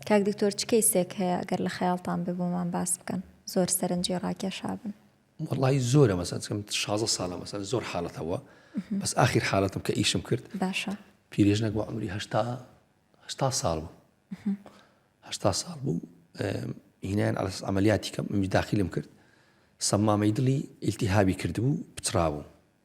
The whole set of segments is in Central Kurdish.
کاک دکتۆر چ کەیسێک هەیە ئەگەر لە خەیاڵتان بێ بۆمان باس بکەن زۆر سەرنجی ڕاکێشابن. وەڵاهی زۆرە مەسەن چکەم شازە ساڵە مەسەن زۆر حاڵەت هەوە بەس ئاخیر حاڵەتم کە ئیشم کرد باشە پیرێژنەک بۆ عمری هەشتا هەشتا ساڵ بوو هەشتا ساڵ بوو هینایان ئەلس ئەعملیاتی کەم داخلم کرد سەمامەی دڵی ئیلتیهابی کردبوو پچڕاوم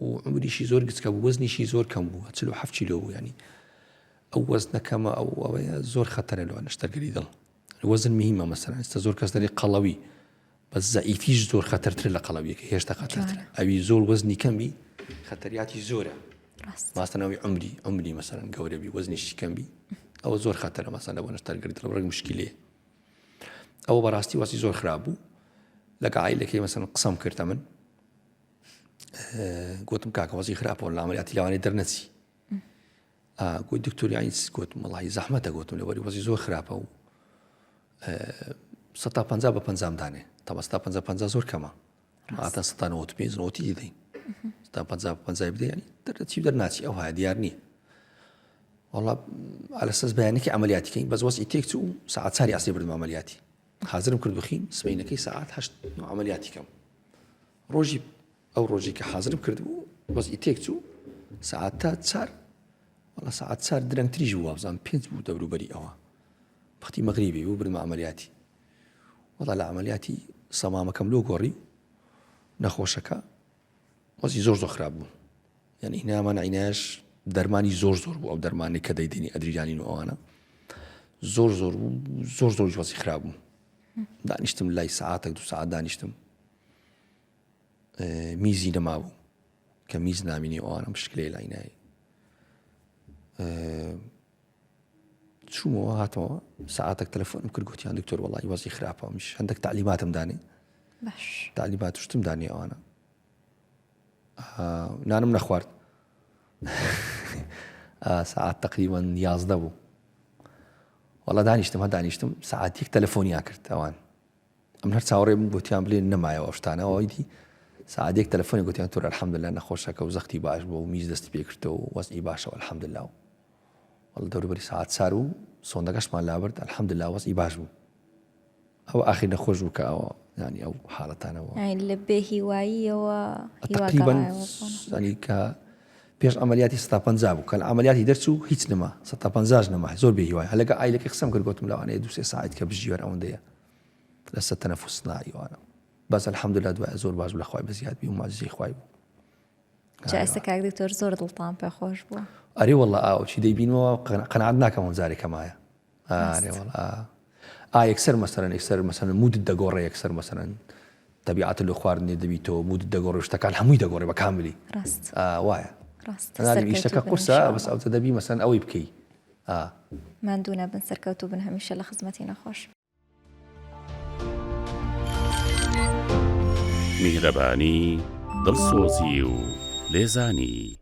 و عومریشی زۆر گچکە بوو وەزنیشی زۆر کەم بوو چل و حەفت کیلۆ بوو یانی ئەو وەزنە کەمە ئەو ئەوەیە زۆر خەتەرە لەوە نەشتەرگەری دڵ وەزن مهمە مەسەرەن ئێستا زۆر کەس دەری قەڵەوی بە زەئیفیش زۆر خەتەرتر لە قەڵەویەکە هێشتا خەتەرتر ئەوی زۆر وەزنی کەمی خەتەریاتی زۆرە ماستەنەوەی عمری عمری مەسەرەن گەورەبی وەزنیشی کەمبی ئەوە زۆر خەتەرە مەسەن لە بۆ نەشتەرگەری دڵ ڕێک مشکلێ ئەوە بەڕاستی وەسی زۆر خراپ بوو لەگە عیلەکەی مەسەن قسەم کردە من گوتم کاکە وەزی خراپەوە لامەریاتی لەوانی دەرنەچی گوی دکتۆریانیس گوت مەڵی زەحمەتە گوتم لەوەری وەزی زۆر خراپە و سە پ بە پەنجام دانێ تەمەستا پ پ زۆر کەمە ئاتە ستا نەوەت پێ نەوەتی دەین تا پ پ بدەین دەرچی دەرناچی ئەو ها دیار نییە وڵا ئالەسەس بەیانێکی ئەعملیاتیکەین بەس وەسی تێک و ساعت چاری ئاسی بردم ئەعملیاتی حاضرم کرد بخین سبینەکەی ساعت هەشت ئەعملیاتیکەم ڕۆژی ئەو ڕۆژی کە حازرم کردبوو وەزی تێک چوو سعات تا چار وڵە سعات چار درەنگ تریژ وابزان پێنج بوو دەوروبەری ئەوە بەختی مەغریبی بوو برمە عملیاتی وڵا لە عملیاتی سەمامەکەم لۆ گۆڕی نەخۆشەکە وەزی زۆر زۆر خراپ بوو یعنی نامان عیناش دەرمانی زۆر زۆر بوو ئەو دەرمانی کە دەیدنی ئەدریجانین و ئەوانە زۆر زۆر بوو زۆر زۆر وەزی خراپ بوو دانیشتم لای سعاتێک دو سعات دانیشتم میزی نەمابوو کە میز نامینی ئەوانم شکلێ لای نایی چوومەوە هاتەوە ساعتێک تەلەفۆن کرد گوتیان دکتۆر وڵی وەزی خراپە میش هەندێک تعلیماتم دانێ تعلیمات شتم دانێ ئەوانە نانم نەخوارد ساعت تقریبان یازدە بوو وڵا دانیشتم هە دانیشتم ساعتێک تەلەفۆنیا کرد ئەوان ئەمن هەر چاوەڕێ بووم گۆتیان بلێن نەمایەوە ئەو شتانە ئەوەی دی سەعاتێک تەلەفۆنێک گۆتیان تۆر الحمدللە نەخۆشەکە و زەختی باش بووە و میز دەستی پێ کرتەوە و وەزعی باشە الحمدللە و وەڵ دەوروبەری سەعات چار بوو سۆندەکەشمان لابرد الحمدللە وەزعی باش بوو ئەو ئاخیر نەخۆش بوو کە ئەوە ینی ئەو حاڵەتانەوە یانی لە بێ هیواییەوە هیوا تقریبا گەڕایەوە بۆ نەخۆش. ینی کە پێش عملیاتی ستا پەنجا بوو کە لە عملیاتی دەرچوو هیچ نەما ستا پەنجاش نەما زۆر بێ هیوای هەلەکە ئایلەکە قسەم کرد گۆتم لەوانەیە دوو سێ ساعت کە بژیوەر ئەوەندەیە لەسەر تەنەفوس نا ئیوانە بەس الحمدلله دوای زۆر باش لە خوای بەزیاد بی و ماجزی خوای بوو جاسە کاک دکتۆر زۆر دڵتان پێ خۆش بوو ئەری والله ئاو چی دەیبینەوە قەنعات ناکەم و جارێکە مایە ئارێ والله ئا یەکسەر مەسەرەن یەکسەر مەسەن مودت دەگۆڕێ یەکسەر مەسەرەن تەبیعات لە خواردنێ دەبیتەوە مودت دەگۆڕێ شتەکان هەمووی دەگۆڕێ بە کاملی ڕاست وایە ڕاست شتەکە قورسە بەس ئەو دەبی مەسەن ئەوەی بکەی ئا. ماندوو نەبن سەرکەوتوو بن هەمیشە لە خزمەتی نەخۆش. میهرەبانی، دڵسۆزی و لێزانی.